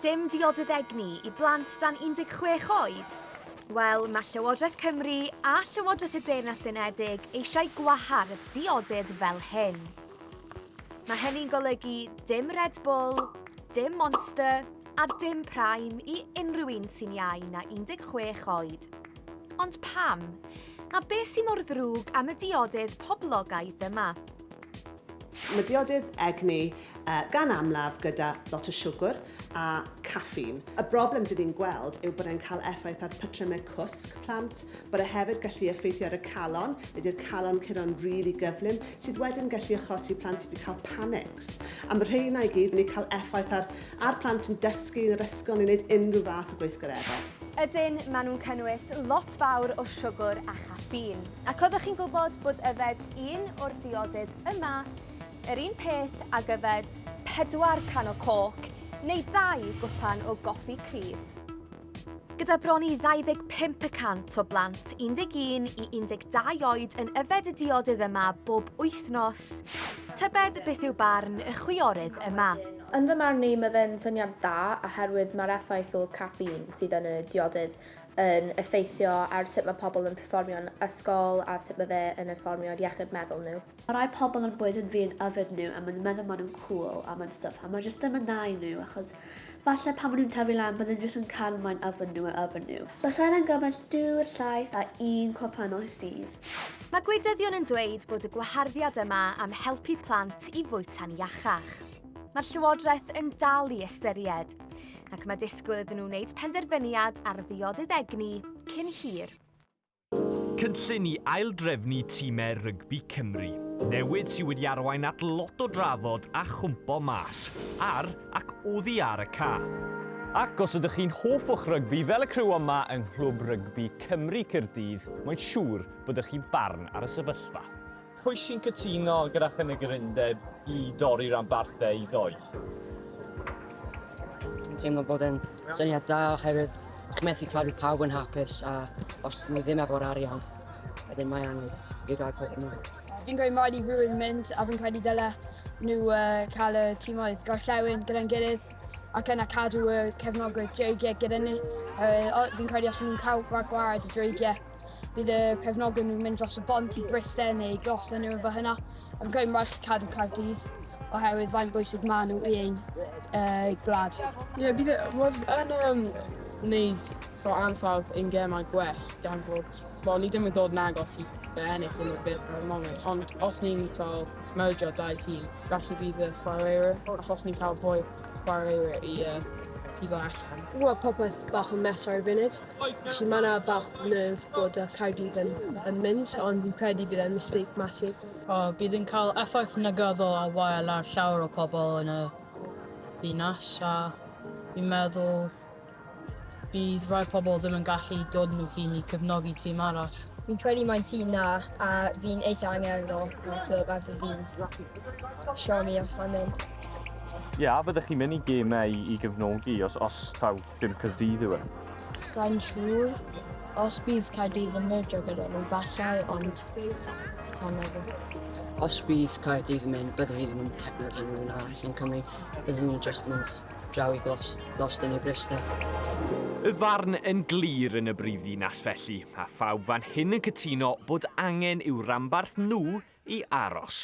Dim diodydd egni i blant dan 16 oed? Wel, mae Llywodraeth Cymru a Llywodraeth y Deyrnas Unedig eisiau gwahardd diodydd fel hyn. Mae hynny'n golygu dim Red Bull, dim Monster a dim Prime i unrhyw un sy'n iau na 16 oed. Ond pam? A beth sy'n mor ddrwg am y diodydd poblogaidd yma? Mae diodydd egni gan amlaf gyda lot o siwgr a caffîn. Y broblem dŷn ni'n gweld yw bod e'n cael effaith ar patrymau cwsg plant, bod e hefyd gallu effeithio ar y calon, nid yw'r calon curo'n rili gyflym, sydd wedyn gallu achosi plant i cael panics. A mae rheina i gyd yn eu cael effaith ar ar plant yn dysgu yn yr ysgol neu wneud unrhyw fath o gweithgareddau. Ydyn, maen nhw'n cynnwys lot fawr o siwgr a chaffîn. Ac oeddech chi'n gwybod bod yfed un o'r diodydd yma yr un peth ag yfed pedwar can o coc neu dau gwpan o goffi cryf? Gyda bron i 25 y cant o blant 11 i 12 oed yn yfed y diodydd yma bob wythnos, tybed beth yw barn y chwiorydd yma? Yn fy marn i, mae fe'n syniad da oherwydd mae'r effaith o caffîn sydd yn y diodydd yn effeithio ar sut mae pobl yn perfformio'n ysgol a sut mae fe yn effeithio ar iechyd meddwl nhw. Mae rhai pobl yn bwyd yn fu'n yfed nhw a maen nhw'n meddwl maen nhw'n cŵl a maen stwff a mae jyst ddim yn dda i nhw achos falle pan maen nhw'n tyfu lan bydden nhw jyst yn cael moyn yfed nhw a yfed nhw. Bysa hynna'n gymaint dwr, llaeth a un cwpanol sydd. Mae gwleidyddion yn dweud bod y gwaharddiad yma am helpu plant i fwyta'n iachach. Mae'r Llywodraeth yn dal i ystyried. ac mae disgwyl iddyn nhw wneud penderfyniad ar ddiodydd egni cyn hir. Cynllun i aildrefnu tîmau rygbi Cymru. Newid sydd wedi arwain at lot o drafod a chwmpo mas, ar ac oddi ar y ca. Ac os ydych chi'n hoff o'ch rygbi fel y criw yma yng Nghlwb Rygbi Cymru Caerdydd, mae'n siŵr bod ych chi'n barn ar y sefyllfa. Pwy sy'n cytuno gyda chynigir undeb i dorri ranbarthau i doeth? Dwi'n teimlo bod e'n syniad da oherwydd chi'n methu cadw pawb yn hapus a os ni ddim efo'r arian, wedyn mae angen i gael pobl yn mynd. Fi'n gweud rhaid i rhywun mynd a fi'n credu dyle nhw uh, cael y tîmoedd gorllewin gyda'n gilydd ac yna cadw y cefnogwyr dreigiau gyda ni. Uh, fi'n credu os maen nhw'n cael rhag gwared y dreigiau Bydd y cefnogwr nhw'n mynd dros y bont i Bryste neu glos yn nhw efo hynna. Yn cael march cadw Cardydd oherwydd faint bwysig maen nhw i ein uh, gwlad. Ie, yeah, bydd e yn um, wneud fo ansawdd ein gemau gwell gan fod, wel, ni ddim yn dod yn agos i fe ennill yn y byd ar y moment, ond os ni'n cael mergio dau tîm, falle bydd y chwaraewyr, achos ni'n cael fwy chwaraewyr i, uh, i fo allan. Wel, popeth bach yn mes ar y funud. Felly mae yna bach nerve bod y Caerdydd yn, yn mynd, ond fi'n credu bydd e'n mistake massive. O, bydd yn cael effaith negyddol a wael ar llawer o pobl yn y ddinas a fi'n meddwl bydd rhai pobl ddim yn gallu dod nhw hun i cefnogi tîm arall. Fi'n credu mae'n tîm na a fi'n eitha angerddol o'r clwb a fi fi'n siomi os mae'n mynd. Ie, yeah, a fyddech chi'n mynd i gemau i, i gefnogi os, os taw Dim Caerdydd yw e. Sa'n siŵr. Os bydd Caerdydd yn merjo gyda nhw, falle, ond sa'n meddwl. Os bydd Caerdydd yn mynd, byddwn i ddim yn cefnogi nhw yn arall yn Cymru. Byddwn ni'n just mynd draw i glos, glos dyn i Bryste. Y farn yn glir yn y brifddinas felly, a phawb fan hyn yn cytuno bod angen i'w ranbarth nhw i aros.